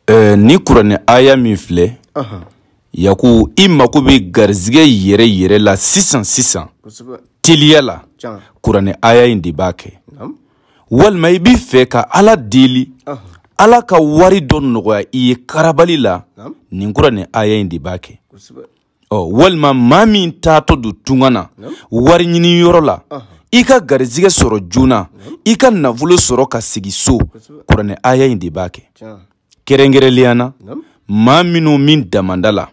eh, nin kuranɛ aya min filɛ yaku i mako bɛ garizigɛ yɛrɛ yɛrɛ la sisan sisan teliya la kuranɛ aya in de b'a kɛ walima i b'i fɛ ka ala deli ala ka wari dɔ nɔgɔya i ye karabali la nin kuranɛ aya in de b'a kɛ ɔ walima maa min taatɔ don tunga na wari ɲini yɔrɔ la i ka garizigɛ sɔrɔ joona i ka nafolo sɔrɔ ka segin so kuranɛ aya in de b'a kɛ kɛrɛnkɛrɛnnenya na maa minnu bɛ damanda la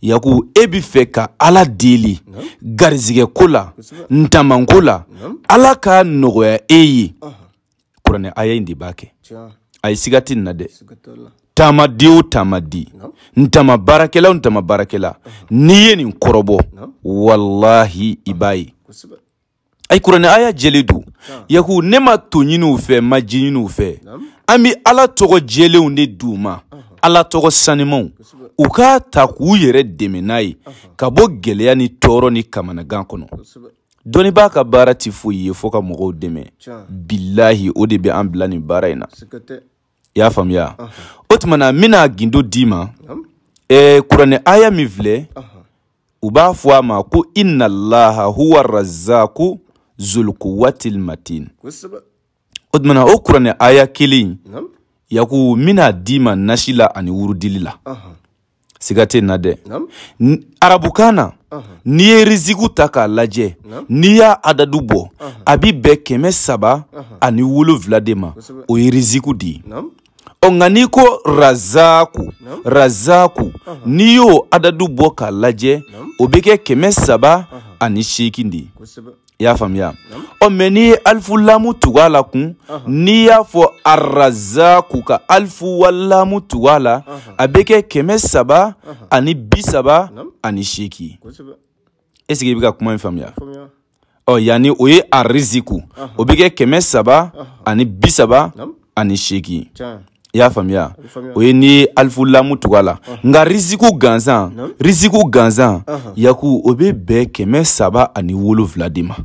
yaku e b'a fɛ ka ala deli garizigɛ ko la damanko la ala k'a nɔgɔya e ye kuranɛ aya in de b'a kɛ ayi siga tɛ nin na dɛ taamaden o taamaden daman baarakɛla o daman baarakɛla n'i ye nin kɔrɔbɔ walahi i b'a ye ayi kuranɛ aya jɛlen don yaku ne ma to ɲiniw fɛ ma ji ɲiniw fɛ an bɛ ala tɔgɔ jɛlenw de d'u ma ala tɔgɔ sanimaw u k'a ta k'u yɛrɛ dɛmɛ n'a ye ka bɔ gɛlɛya ni tɔɔrɔ ni kamanagan kɔnɔ dɔnnibaa ka baara tɛ foyi ye fo ka mɔgɔw dɛmɛ bilahi o de bɛ an bila nin baara in na i y'a faamuya o tuma na n bɛna gundo d'i ma ɛɛ kuranɛ aya min filɛ u b'a fɔ a ma ko inalaha huwa razaku zulukuwatil matin o tumana o kuranɛ aya kelen yaku n bɛn'a d'i ma nasi la ani wurudili la siga tɛ na dɛ arabukan na n'i ye riziku ta k'a lajɛ n'i y'a adadu bɔ a bi bɛn kɛmɛ saba ani wolonwula de ma o ye riziku de ye ɔ nka n'i ko razaku razaku n'i y'o adadu bɔ k'a lajɛ o bɛ kɛ kɛmɛ saba ani seegin de ye i y'a faamuya ɔ mais n'i ye alifu lamu tugu a la kun n'i y'a fɔ arazaku ka alifu walamu tugu a la a bɛ kɛ kɛmɛ saba ani bi saba ani seegin est ce que i bɛ ka kuma in faamuya ɔ yaani o ye ariziku o bɛ kɛ kɛmɛ saba ani bi saba ani seegin i y'a faamuya o ye n'i ye alifu lamu tugu a la nka riziku gansan riziku gansan yaku o bɛ bɛn kɛmɛ saba ani wolonwula de ma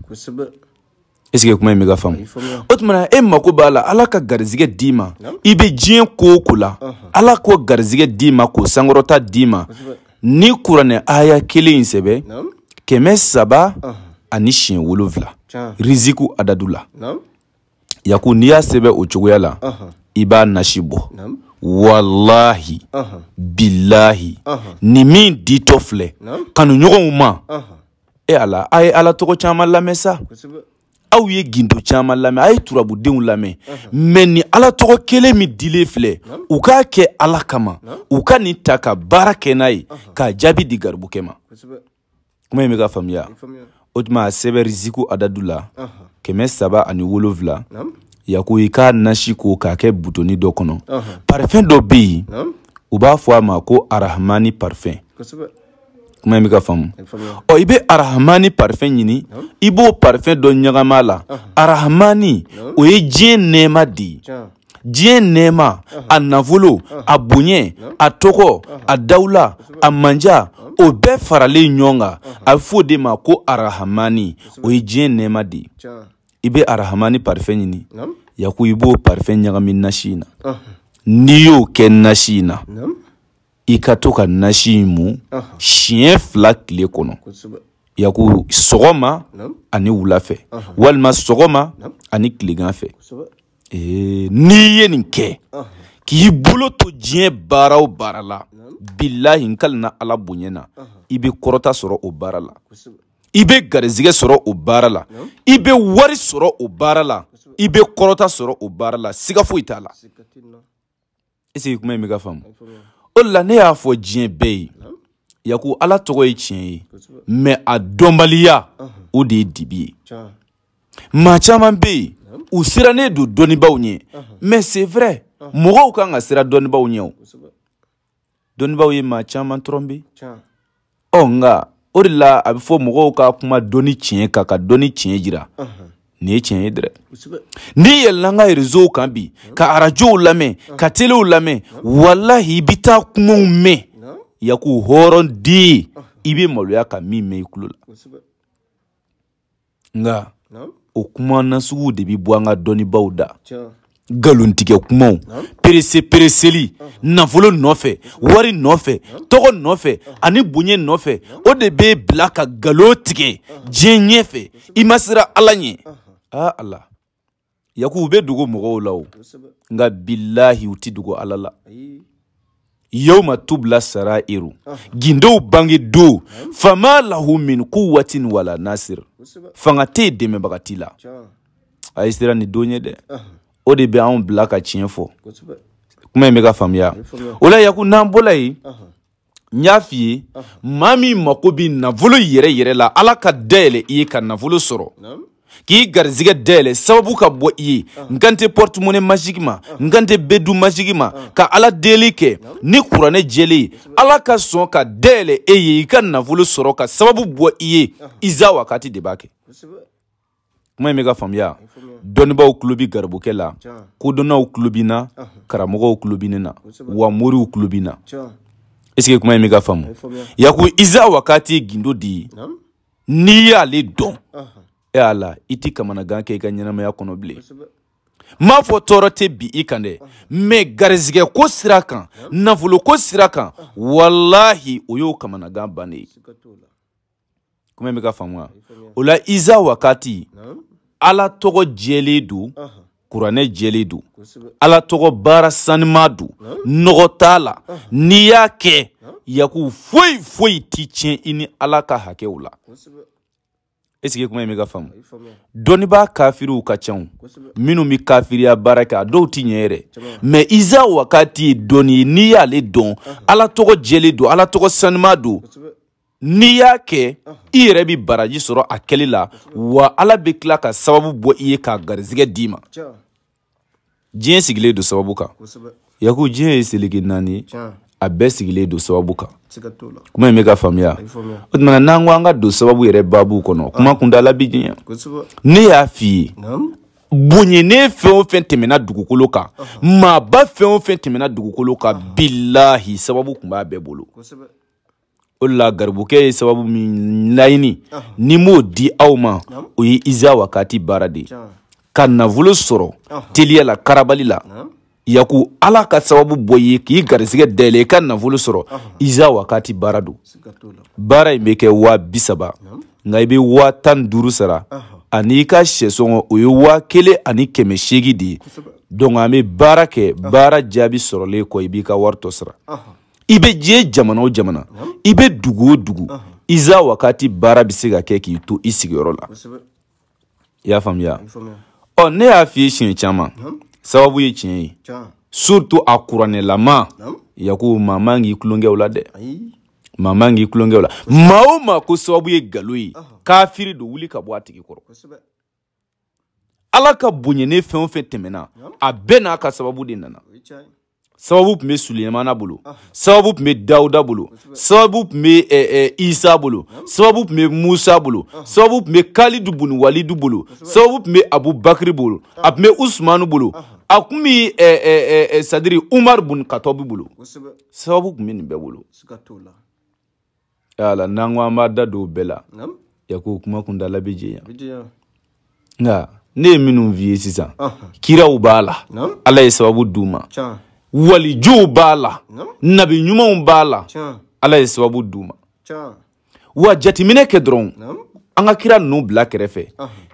est ce que kuma in bɛ ka faamu o tuma na e mako b'a la ala ka garizigɛ d'i ma i bɛ diɲɛ ko o ko la ala k'o garizigɛ d'i ma k'o sankɔrɔta d'i ma nin kuranɛ aya kelen in sɛbɛ kɛmɛ saba ani siɲɛ wolonfila riziku adadu la yaku n'i y'a sɛbɛ o cogoya la i b'a nasi bɔ walahi bilahi nin min ditɔ filɛ kanuɲɔgɔnw ma e ala a ye ala tɔgɔ caman lamɛn sa aw ye gindo caman lamɛn a ye turabudenw lamɛn mɛ ni ala tɔgɔ kelen min dilen filɛ u k'a kɛ ala kama u ka nin ta ka baara kɛ n'a ye k'a jaabi di garibukɛ ma kuma in bɛ ka faamuya o tuma a sɛbɛn riziku adadu la kɛmɛ saba ani wolonfila yaku i k'a nasi ko k'a kɛ butoni dɔ kɔnɔ parifɛn dɔ bɛ yen u b'a fɔ a ma ko arahamani parifɛn kuma in bɛ ka faamu ɔ i bɛ arahamani parifɛn ɲini i b'o parifɛn dɔ ɲagami a la arahamani o ye diɲɛ nɛɛma de ye diɲɛ nɛɛma a nafolo a bonya a tɔgɔ a dawula a manja o bɛɛ faralen ɲɔgɔn kan a bɛ f'o de ma ko arahamani o ye diɲɛ nɛɛma de ye i bɛ arahamani parifɛn ɲini yaku i b'o parifɛn ɲagami nasi in na n'i y'o kɛ nasi in na i ka to ka nasi in mu siɲɛ fila tile kɔnɔ yaku sɔgɔma ani wula fɛ walima sɔgɔma ani tilegan fɛ eh, n'i ye nin kɛ k'i bolo to diɲɛ baara o baara la bilahi n kalina ala bonya na i bɛ kɔrɔta sɔrɔ o baara la i bɛ garizigɛ sɔrɔ o baara la i bɛ wari sɔrɔ o baara la i bɛ kɔrɔta sɔrɔ o baara la siga foyi t'a la eseke kuma in bɛ ka faamu o de la ne y'a fɔ diɲɛ bɛɛ ye yaku ala tɔgɔ ye tiɲɛ ye mɛ a dɔnbaliya o de ye dibi ye maa caman bɛ yen u sirannen don dɔnnibaaw ɲɛ mɛ c'est vrai mɔgɔw kan ka siran dɔnnibaaw ɲɛ o dɔnnibaaw ye maa caman tɔrɔnpe ɔ nka o de la a bɛ fɔ mɔgɔw ka kuma dɔnni tiɲɛ kan ka dɔnni tiɲɛ jira nin ye tiɲɛ ye dɛrɛ n'i yɛlɛla an ka rezow kan bi ka arajow lamɛn ka telew lamɛn walahi i bɛ taa kumaw mɛn yaku hɔrɔn den i bɛ maloya ka min mɛn i tulo la nka o kuma nasuguw de bi bɔ an ka dɔnnibaaw da galontigɛ kumaw perese pereseli nafolo nɔfɛ wari nɔfɛ tɔgɔ nɔfɛ ani bonya nɔfɛ o de b'i bila ka galon tigɛ diɲɛ ɲɛfɛ i ma siran ala ɲɛ aa ala yaku u bɛ dogo mɔgɔw la o nka bilahi u tɛ dogo ala la yawma tubla sarairu gindow bange don fama lahu min kuwatin wala nasir fanga tɛ yen dɛmɛbaga t'i la a ye siran nin don ye dɛ o de bɛ anw bila ka tiɲɛ fɔ kuma in bɛ ka faamuya o la yaku n'an bɔla yen n y'a f'i ye maa min mako bɛ nafolo yɛrɛ yɛrɛ la ala ka dayɛlɛ i ye ka nafolo sɔrɔ k'i garizigɛ dayɛlɛ sababu ka bɔ i ye n kan tɛ pɔritumone maziki ma n kan tɛ bedu maziki ma ka ala deli kɛ ni kuranɛ jɛlen ye ala ka sɔn ka dayɛlɛ e ye i ka nafolo sɔrɔ ka sababu bɔ i ye iza wakati de b'a kɛ kuma in bɛ ka faamuya dɔnnibaaw tulo bi garibukɛ la kodɔnnaw tulo bi n na karamɔgɔw tulo bi ne na wa moriw tulo bi n na esike kuma in bɛ ka faamu yaku iza wakati gindo de n'i y'ale dɔn e y'a la i ti kamanagan kɛ i ka ɲɛnamaya kɔnɔ bilen n m'a fɔ tɔɔrɔ tɛ bin i kan dɛ mɛ garizigɛ ko sira kan nafolo ko sira kan walahi o y'o kamanagan bannen ye kuma bɛ ka faamuya o la iza wakati ala tɔgɔ jɛlen don kuranɛ jɛlen don ala tɔgɔ baara saniman don nɔgɔ t'a la n'i y'a kɛ yaku foyi foyi ti tiɲɛ i ni ala ka hakɛw la esike kuma in bɛ ka faamu dɔnnibaa kafiriw ka ca minnu bɛ kafiriya baara kɛ a dɔw ti ɲɛ yɛrɛ mɛ iza wakati ye dɔnni ye n'i y'ale dɔn ala tɔgɔ jɛlen don ala tɔgɔ saniman don n'i y'a kɛ i yɛrɛ bɛ baraji sɔrɔ a kɛli la wa ala bɛ tila ka sababu bɔ i ye ka garizigɛ d'i ma diɲɛ sigilen don sababu kan yaku diɲɛ ye seleke naani ye a bɛɛ sigilen don sababu kan kuma in bɛ ka faamuya o tuma n'an ko an ka don sababu yɛrɛ baabu kɔnɔ ah. kuma kuntaala bi janya ne y'a f'i ye bonyanen fɛn o fɛn tɛmɛna dugukolo kan maaba fɛn o fɛn tɛmɛna dugukolo kan bilahi sababu tun b'a bɛɛ bolo o de la garibukɛ ye sababu min laɲini ni m'o di aw ma o ye iza wakati baara de ye ka nafolo sɔrɔ teliya la karabali la yaku ala ka sababu bɔ i ye k'i garisigɛ dayɛlɛ i ka nafolo sɔrɔ iza wakati baara don baara in bɛ kɛ waa bi saba nka i bɛ waa tan ni duuru sara ani i ka sɛ sɔngɔ o ye waa kelen ani kɛmɛ seegin de ye donc an bɛ baara kɛ baara jaabi sɔrɔlen kɔ i b'i ka wari tɔ sara i bɛ diɲɛ jamana o jamana i bɛ dugu o dugu iza wakati baara bɛ se ka kɛ k'i to i sigiyɔrɔ la i y'a faamuya ɔ ne y'a f'i ye siɲɛ caman sababu ye tiɲɛ ye surtout a kuranɛlama yakubu maa man k'i tulonkɛ o la dɛ maa man k'i tulonkɛ o la maa o maa ko sababu ye nkalon ye kafiri don wuli ka bɔ a tigi kɔrɔ ala ka bonyanen fɛn o fɛn tɛmɛna a bɛɛ n'a ka sababu de nana sababu tun bɛ suleyemana bolo ah. sababu tun bɛ dawuda bolo sababu tun bɛ eh, eh, isa bolo sababu tun bɛ musa bolo ah. sababu tun bɛ kalidu buni walidu bolo sababu tun bɛ abubakiri bolo ah. a tun bɛ usumanu bolo a tun bɛ eh, sayidi umaru buni katɔbi bolo sababu tun bɛ nin bɛɛ bolo ala n'an ko an b'an da don o bɛɛ la yaku kuma kuntaala bɛ janya nka ne ye minnu f'i ye sisan kiraw b'a la ala ye sababu d'u ma walijuw b'a la nabi ɲumanw b'a la ala ye sababu d'u ma wa jateminɛ kɛ dɔrɔn an ka kira ninnu bila kɛrɛfɛ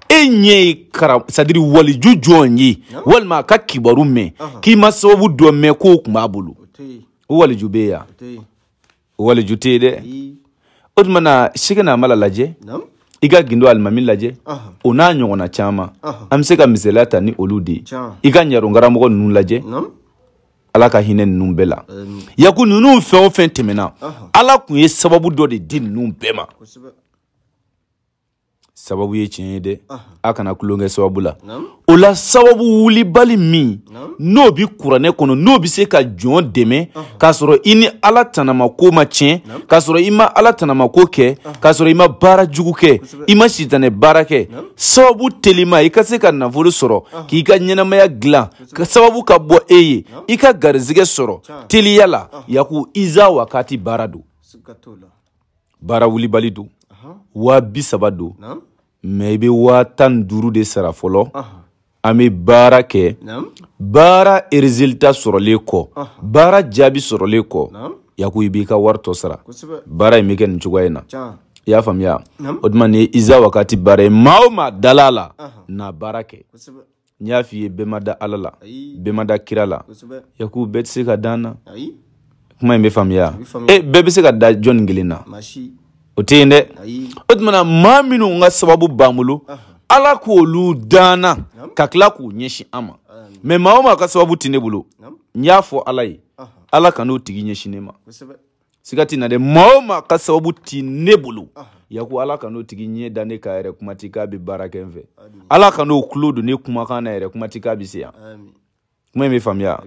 e ɲɛ ye kara sadiri waliju jɔn ye walima a ka kibaru mɛn k'i ma sababu dɔ mɛn k'o tun b'a bolo o waliju bɛ yan waliju tɛ yen dɛ o tuma na sekina amala lajɛ i ka gindo alimami lajɛ o n'a ɲɔgɔnna caman an bɛ se ka misaliya ta ni olu de ye i ka ɲaron karamɔgɔ ninnu lajɛ ala ka hinɛ ninnu bɛɛ la yaku ninnu fɛn o fɛn tɛmɛna ala tun ye sababu dɔ de di ninnu bɛɛ ma sababu ye tiɲɛ ye dɛ a kana tulon kɛ sababu la o la sababu wulibali min n'o bi kuranɛ kɔnɔ n'o bɛ se ka jɔn dɛmɛ k'a sɔrɔ i ni ala tanamako ma tiɲɛ k'a sɔrɔ i ma ala tanamako kɛ k'a sɔrɔ i ma baara jugu kɛ i ma sitanɛ baara kɛ sababu telima i ka se ka nafolo sɔrɔ k'i ka ɲɛnamaya dilan ka sababu ka bɔ e ye i ka garizigɛ sɔrɔ teliya la yaku iza wakati baara don baara wulibali don waa bi saba don mɛ i bɛ waa tan ni duuru de sara fɔlɔ an bɛ baara kɛ baara erizilita sɔrɔlen kɔ baara jaabi sɔrɔlen kɔ yaku i b'i ka wari tɔ sara baara in bɛ kɛ nin cogoya in na i y'a faamuya o tuma nin iza wakati baara in maa o maa dal'a la na baara kɛ n y'a f'i ye bɛɛ ma da ala la bɛɛ ma da kira la yaku bɛɛ tɛ se ka da n na kuma in bɛ faamuya e eh, bɛɛ bɛ se ka da jɔnni kelen na o tɛ yen dɛ o tumana maa minnu ka sababu b'an bolo ala k'olu d'an na ka tila k'u ɲɛsin an ma mɛ maa o maa ka sababu tɛ ne bolo n y'a fɔ ala ye ala kan'o tigi ɲɛsin ne ma siga tɛ n na dɛ maa o maa ka sababu ti ne bolo yaku ala kan'o tigi ɲɛ da ne kan yɛrɛ kuma ti k'a bɛ baara kɛ n fɛ ala kan'o tulo don ne kumakan na yɛrɛ kuma ti k'a bɛ se yan kuma in bɛ faamuya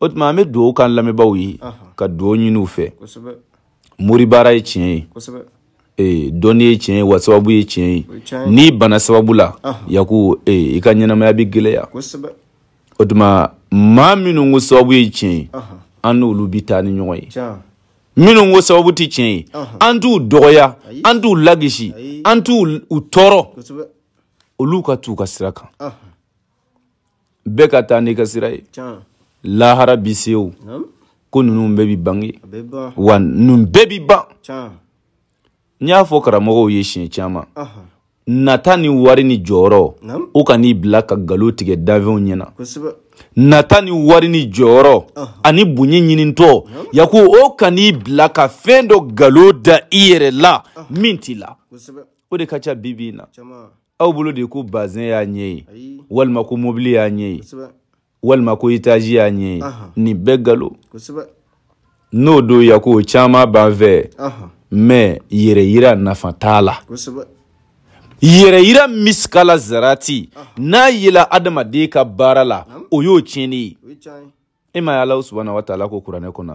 o tuma an bɛ dugawu k'an lamɛnbaaw ye ka dugawu ɲini u fɛ moribaara ye tiɲɛ ye ee dɔnni ye tiɲɛ ye wa sababu ye tiɲɛ ye n'i bana sababu la yaku ee i ka ɲɛnamaya bɛ gɛlɛya o tuma maa minnu ko sababu ye tiɲɛ ye an n'olu bɛ taa ni ɲɔgɔn ye minnu ko sababu tɛ tiɲɛ ye an t'u dɔgɔya an t'u lagosi an t'u tɔɔrɔ olu ka t'u ka sira kan bɛɛ ka taa n'i ka sira ye lahara bi se o ko ninnu bɛɛ bi bange wa ninnu bɛɛ bi ban n y'a fɔ karamɔgɔw ye siɲɛ caman nata ni wari ni jɔyɔrɔ o kan'i bila ka galo tigɛ danfɛnw ɲɛna nata ni wari ni jɔyɔrɔ ani bonya ɲinintɔ yako o kan'i bila ka fɛn dɔ galo da i yɛrɛ la min t'i la o de ka ca bi bi in na aw bolo de ko bazɛn y'a ɲɛ ye walima ko mobili y'a ɲɛ ye walima ko itaji y'a ɲɛ ye nin bɛɛ galo n'o don yako o caman b'an fɛ mɛ yɛrɛyira nafa t'a la yɛrɛyira misikala zarati n'a yela adamaden ka baara la o y'o tiɲɛni ye e m'a ye ala subahana wataala ko kuranɛ kɔnɔ